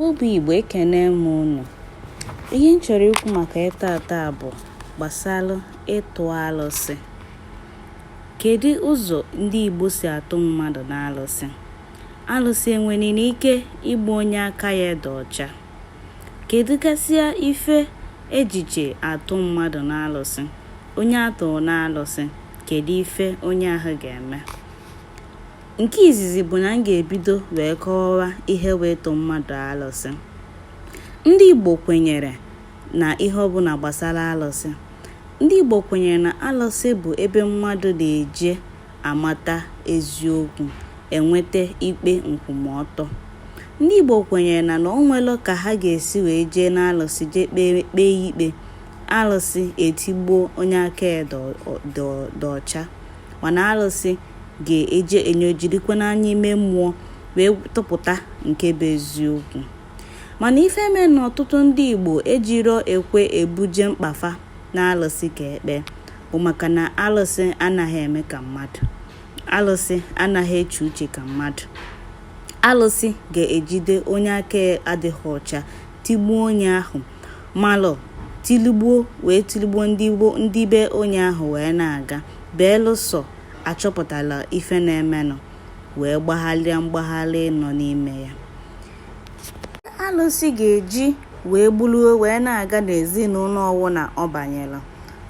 Ụmụ Igbo ekene m unu. Ihe m chọrọ ikwu maka ya taata bụ gbasara ịtụ alụsị. Kedu ụzọ ndị Igbo si atụ mmadụ n'alụsị? Alụsị enwere ike igbu onye aka ya dị ọcha? Kedu gasịa ife eji eje atụ mmadụ n'alụsị? Onye atụrụ n'alụsị, kedu ife onye ahụ ga-eme? Nke izizi bụ na m ga-ebido wee kọwaa ihe bụ ịtụ mmadụ alụsị. Ndị Igbo kwenyere na ihe ọbụla gbasara alụsị. Ndị Igbo kwenyere na alụsị bụ ebe mmadụ na-eje amata eziokwu, enweta ikpe nkwụmọtọ. Ndị Igbo kwenyere na na o nwelo ka ha ga-esi wee jee n'alụsị jee kpee ikpe, alụsị etigbuo onye aka ya dị ọcha, mana alụsị ga-eji enyo jirikwa n'anya ime mmụọ wee tụpụta nke bụ eziokwu mana ife mee na ọtụtụ ndị Igbo ejiro ekwe ebuje mkpa fa n'alụsị ka e kpee bụ maka na alụsị anaghị eme ka mmadụ alụsị anaghị eche uche ka mmadụ alụsị ga-ejide onye aka adịghị ọcha tigbuo onye ahụ malụ tiligbuo wee tiligbuo ndị be onye ahụ wee na-aga belụsọ achọpụtala ife na-emenụ wee gbagharịa mgbagharị nọ n'ime ya alụsị ga-eji wee gburu wee na-aga n'ezinụlọ ọwụna ọ banyela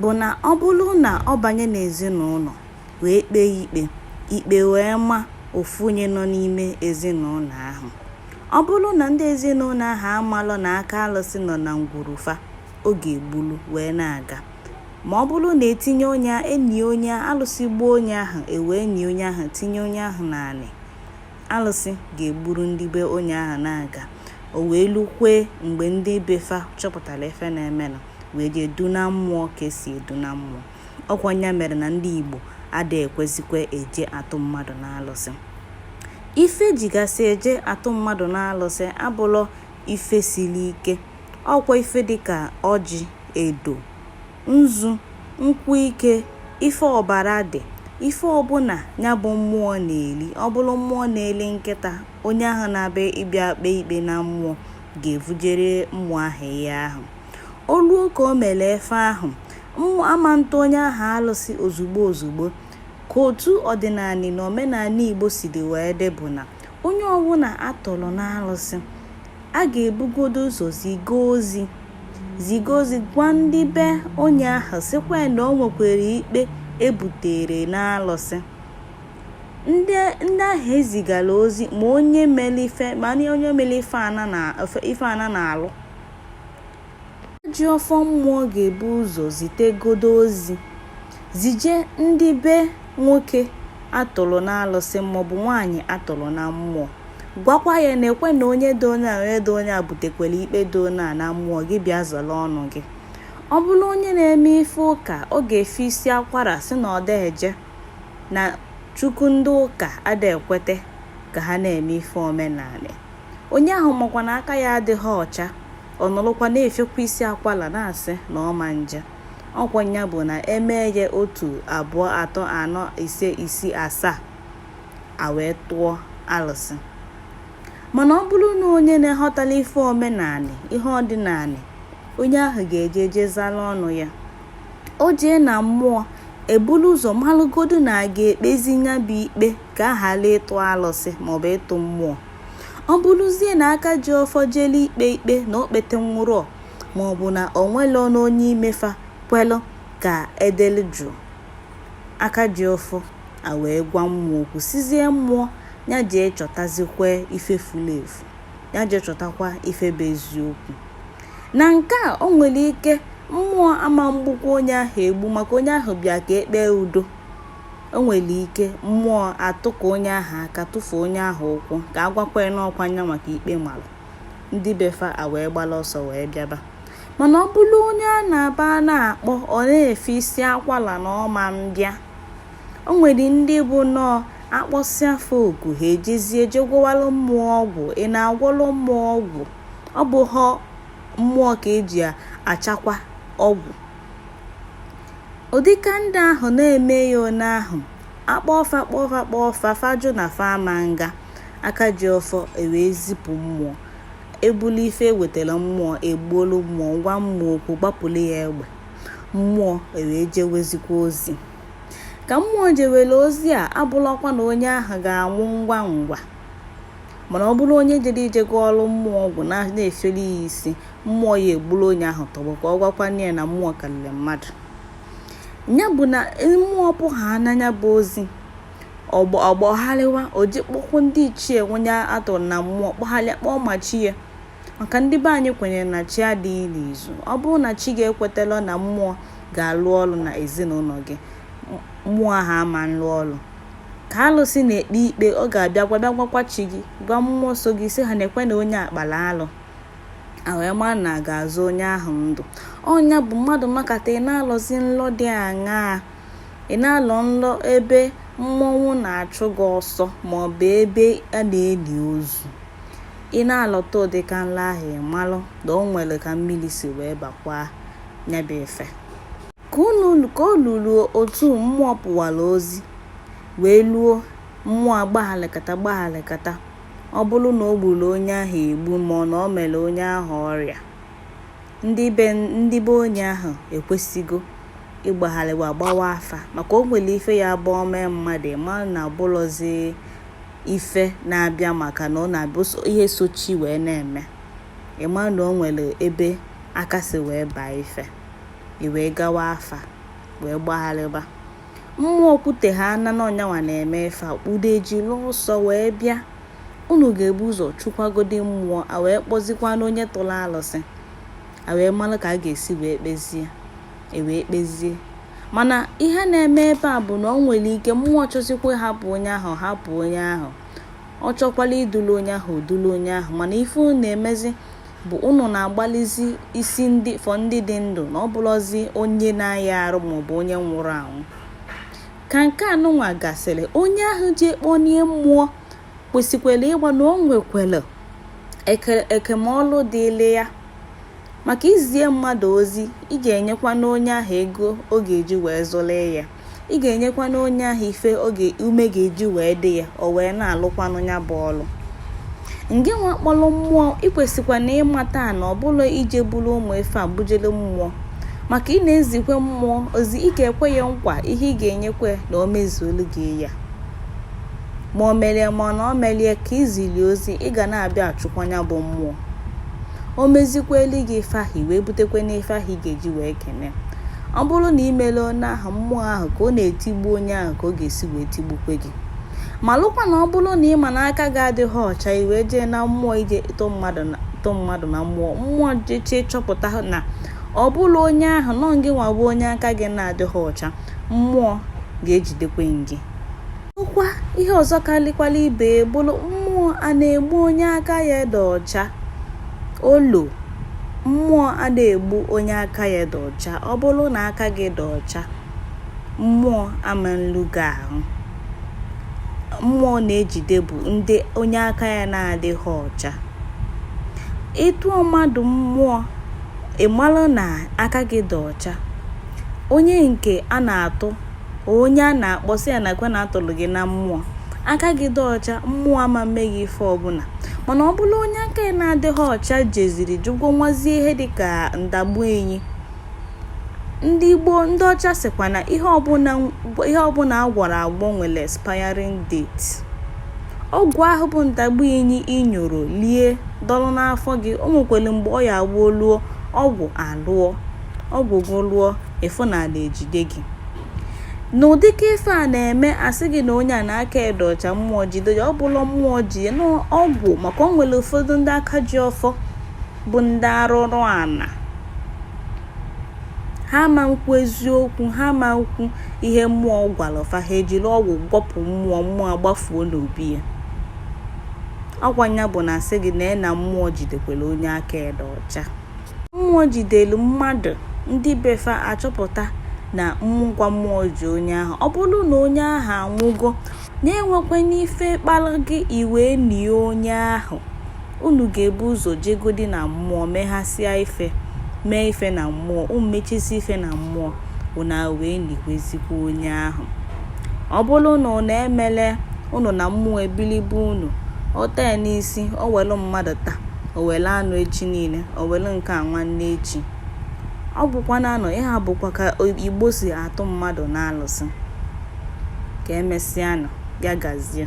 bụ na ọ bụrụ na ọ banye n'ezinụlọ wee kpee ikpe ikpe wee ma ofu onye nọ n'ime ezinụlọ ahụ Ọ bụrụ na ndị ezinụlọ ahụ amalọ na aka alụsị nọ na ngwuru fa, ọ ga-egbulu wee na-aga. Ma ọ bụrụ na etinye onye a enie onye a alụsị gbuo onye ahụ ewee nie onye ahụ tinye onye ahụ n'anị, alụsị ga-egburu ndị be onye ahụ na-aga. O wee lukwe mgbe ndị be fa chọpụtara ife na-emenụ wee jee duna mmụọ ka esi eduna mmụọ. ọkwa nya mere na ndị Igbo adịghị ekwezikwa eje atụ mmadụ n'alụsị ife ejigasị eje atụ mmadụ n'alụsị abụlọ ife siri ike ọkwa ife dịka ọjị edo nzu nkwụ ike ife ọbara dị ife ọbụla ya bụ mmụọ na-eli ọ bụrụ mmụọ na-eli nkịta onye ahụ na-abịa ịbịa kpee ikpe na mmụọ ga-evujere mmụọ ahụ ihe ahụ o luo ka o mere ife ahụ ama ntụ onye ahụ alụsị ozugbo ozugbo ka otu ọdịnanị na omenanị igbo siri wee dị bụ na onye ọbụla atụrụ n'alụsị a ga-ebugodo ụzọ ziga ozi ziga ozi gwa ndị be onye ahụ sịkwa na o nwekwara ikpe ebutere n'alụsị ndị ahụ ezigara ozi ma onye mere ife ma onye mere ife ana na-alụ ji ọfọ mmụọ ga-ebu ụzọ zitegodo ozi zije ndị be nwoke atụrụ n'alụsị maọbụ nwaanyị atụrụ na mmụọ gwakwa ya na ekwe na onye dị onye a onye dị onye a butekwara ikpe dị onye a na mmụọ gị bịa zọrọ ọnụ gị ọ bụrụ onye na-eme ife ụka ọ ga-efe isi akwara sị na ọ da eje na chukwu ndị ụka ada ekwete ka ha na-eme ife omenanị onye ahụ makwa na aka ya adịghị ọcha ọ nọrọkwa na-efekwa isi akwala na-asị na ọ ma nje ọkwa ya bụ na emee ya otu abụọ atọ anọ ise isii asaa a wee tụọ alụsị mana ọ bụrụ na onye na-aghọtala ife omenanị ihe ọdịnanị onye ahụ ga-eje eje zala ọnụ ya o jee na mmụọ ebulu ụzọ malụgodu na a ga-ekpezi ya bụ ikpe ka a ghara ịtụ alụsị maọbụ ịtụ mmụọ ọ bụrụzie na aka ji ọfọ jele ikpe ikpe na o kpetehọ udo maọbụ na o nwerọnụ onye imefa kwelụ ka edelu jụụ aka ji ọfọ a wee gwa mmụọ okwu sịzie mmụọ ya jee chọtazikwa ife furu efu ya jee chọtakwa ife bụ eziokwu na nke a o nwere ike mmụọ ama mgbukwa onye ahụ egbu maka onye ahụ bịa ka ekpee udo O nwere ike mmụọ atụka onye ahụ aka tụfuo onye ahụ ụkwụ ka a gwakwa ya n'ọkwa nyanwa ka ikpe mara ndị befa a wee gbara ọsọ wee bịaba mana ọ bụrụ onye a na-aba na-akpọ ọ na-efe isi akwala na ọ ma mbịa o nwere ndị bụ nọọ akpọsịa fa oku ha ejezie jee gwọwalụ mmụọ ọgwụ ị na-agwọlụ mmụọ ọgwụ ọ bụhọ mmụọ ka eji achakwa ọgwụ ụdịka ndị ahụ na-eme ya one ahụ akpọọ fa kpọọ fa kpọọ fa fa jụ na fa ama nga aka ji ọfọ ewee zipụ mmụọ ebulu ife ewetara mmụọ egbuolu mmụọ gwa mmụọ okwu gbapụrụ ya egbe mmụọ ewee jewezikwa ozi ka mmụọ jewere ozi a abụlọkwa na onye ahụ ga-anwụ ngwa ngwa mana ọ bụrụ onye jere eje gwọọrụ mmụọ ọgwụ na-efere ya isi mmụọ ya egburu onye ahụ tọgbọ ka ọ gwakwana ya na mmụọ karịrị mmadụ ya bụ na mmụọ pụwa na nya bụ ozi ọ gbagharịwa o ji kpọkuo ndị ichie nwe onye a tụrụ na mmụọ kpọgharịa kpọọ ma chi ya maka ndị be anyị kwenyere na chi adịghị n'izu ọ bụrụ na chi gị ekwetalọ na mmụọ ga-alụ ọrụ na ezinụlọ gị mmụọ ahụ ama nlụ ọrụ ka alụsị na-ekpe ikpe ọ ga-abịa gwa bịa gwakwa chi gị gwa mmụọ so gị sị ha nekwe na onye a kpara alụ a wee maa na a ga-azọ onye ahụ ndụ ọ nya bụ mmadụ makata ị na-alọzi nlọ dị aṅaa ị na-alọ nlọ ebe mmọnwụ na-achụ gị ọsọ maọbụ ebe a na-eli ozu ị na-alọta ụdịka nlọ ahụ ị malụ na o nwere ka mmiri si wee bakwaa nya bụ ife ka ọ lụrụ otu mmụọ pụwara ozi wee luo mmụọ agbaghalịkata gbaghalịkata Ọ bụrụ na o gburu onye ahụ egbu ma ọ na o mere onye ahụ ọrịa, ndị be ndị be onye ahụ ekwesịgo ịgbagharịwa gbawa afa maka o nwere ife ya bụ o mee mmadụ ị ma na ọ bụlọzi ife na-abịa maka na ọ na-abụ ihe sochi wee na-eme ị ma na o nwere ebe aka si wee baa ife i wee gawa afa wee gbagharịba mmụọ kwute ha na ọ nya nwa na-eme ife a kpudo e jili ọsọ wee bịa unu ga-ebu ụzọ chụkwagodi mmụọ a wee kpọzikwana onye tụrụ alụsị a wee mara ka a ga-esi wee kpezie e wee kpezie mana ihe na-eme ebe a bụ na o nwere ike mmụọ chọzikwa hapụ onye ahụ hapụ onye ahụ ọ chọkwala idulu onye ahụ o dulu onye ahụ mana ife na-emezi bụ ụnụ na-agbalịzi isi ndị fọ ndị dị ndụ na ọ bụlọzi onye na-aya arụ maọbụ onye nwụrụ anwụ ka nke anụnwa gasịrị onye ahụ jee kponie mmụọ kwesịkwara ịma na o nwekwara oke n'ọlụ dịịlị ya maka izie mmadụ ozi ị ga-enyekwana onye ahụ ego ọ ga-eji wee zụlị ya ị ga-enyekwana onye ahụ ife oge ume ga-eji wee dị ya o wee na-alụkwanụ ya bụ ọlụ ngị nwa kpọrọ mmụọ ị kwesịkwana ịmata na ọ bụlọ ije buru ụmụ ife bujele mmụọ maka ị na-ezikwe mmụọ ozi ị ga-ekwe ya nkwa ihe ị ga-enyekwe na o mezuolu gị ya ma o merie ma ọ na o merie ka i zili ozi ị ga na-abịa achụkwa nya bụ mmụọ o mezikweli gị ife ahụ i wee butekwana ife ahụ ị ga-eji wee kene ọ bụrụ na i mere onye ahụ mmụọ ahụ ka ọ na-etigbu onye ahụ ka ọ ga-esi wee tigbukwe gị malụkwa na ọ bụrụ na ị ma na aka gị adịghị ọcha i wee jee na mmụọ ije tụ mmadụ na tụ mmadụ na mmụọ mmụọ jeche chọpụta na ọ bụrọ onye ahụ na ọ gị nwa bụ onye aka gị na-adịghị ọcha mmụọ ga-ejidekwe gị Ọkwa ihe ọzọ kalikwala ibe bụrụ mmụọ a na-egbu onye aka ya dị ọcha olo mmụọ ana egbu onye aka ya dị ọcha ọ bụrụ na aka gị dị ọcha mmụọ ama nlu gị ahụ mmụọ na-ejide bụ ndị onye aka ya na-adịghị ọcha ị tụọ mmadụ mmụọ ị malụ na aka gị dị ọcha onye nke a na-atụ onye a na-akpọ sị ya nakwa na atụrụ gị na mmụọ aka gị dị ọcha mmụọ ama mme gị ife ọbụla mana ọ bụlụ onye aka ya na-adịghị ọcha jeziri je gwọnwazie ihe dịka ndagbu enyi ndị igbo ndị ọcha sịkwa na ihe ọbụla agwọrọ agwọ nwere expiring date ọgwụ ahụ bụ ndagbu enyi i nyoro lie dọrọ n'afọ gị o nwekwara mgbe ọ ya agwụ o luo ọgwụ alụọ Ọgwụ gị lụọ, ị fụ na ana ejide gị. N'ụdị ka ife a na-eme asị gị na onye a na aka e dị ọcha mmụọ jide ya ọ bụlụ mmụọ ji ya n'ọgwụ maka o nwere ụfọdụ ndị aka ji ọfọ bụ ndị arụrụ ana ha ma nkwu eziokwu ha ma nkwu ihe mmụọ gwara fa ha ejiri ọgwụ gwọpụ mmụọ mmụọ agbafuo n'obi ya ọkwa nya bụ na asị gị na na mmụọ jidekwara onye aka e dị ọcha mmụọ jidelu mmadụ ndị befa achọpụta na ọ bụkwa mmụọ ji onye ahụ ọ bụrụ na onye ahụ anwụgo na enwekwana ife kpara gị i wee nie onye ahụ unu ga-ebu ụzọ jegodi na mmụọ meghasịa ife mee ife na mmụọ unu mechisi ife na mmụọ unu wee nikwezikwa onye ahụ ọ bụrụ na unu emele unu na mmụọ ebilibe unu o tee n'isi o welu mmadụ taa o were anụ echi niile o were nke a nwanne echi ọ bụkwa na anọ ihe a bụkwa ka igbo si atụ mmadụ n'alụsị ka emesịanụ ya gazie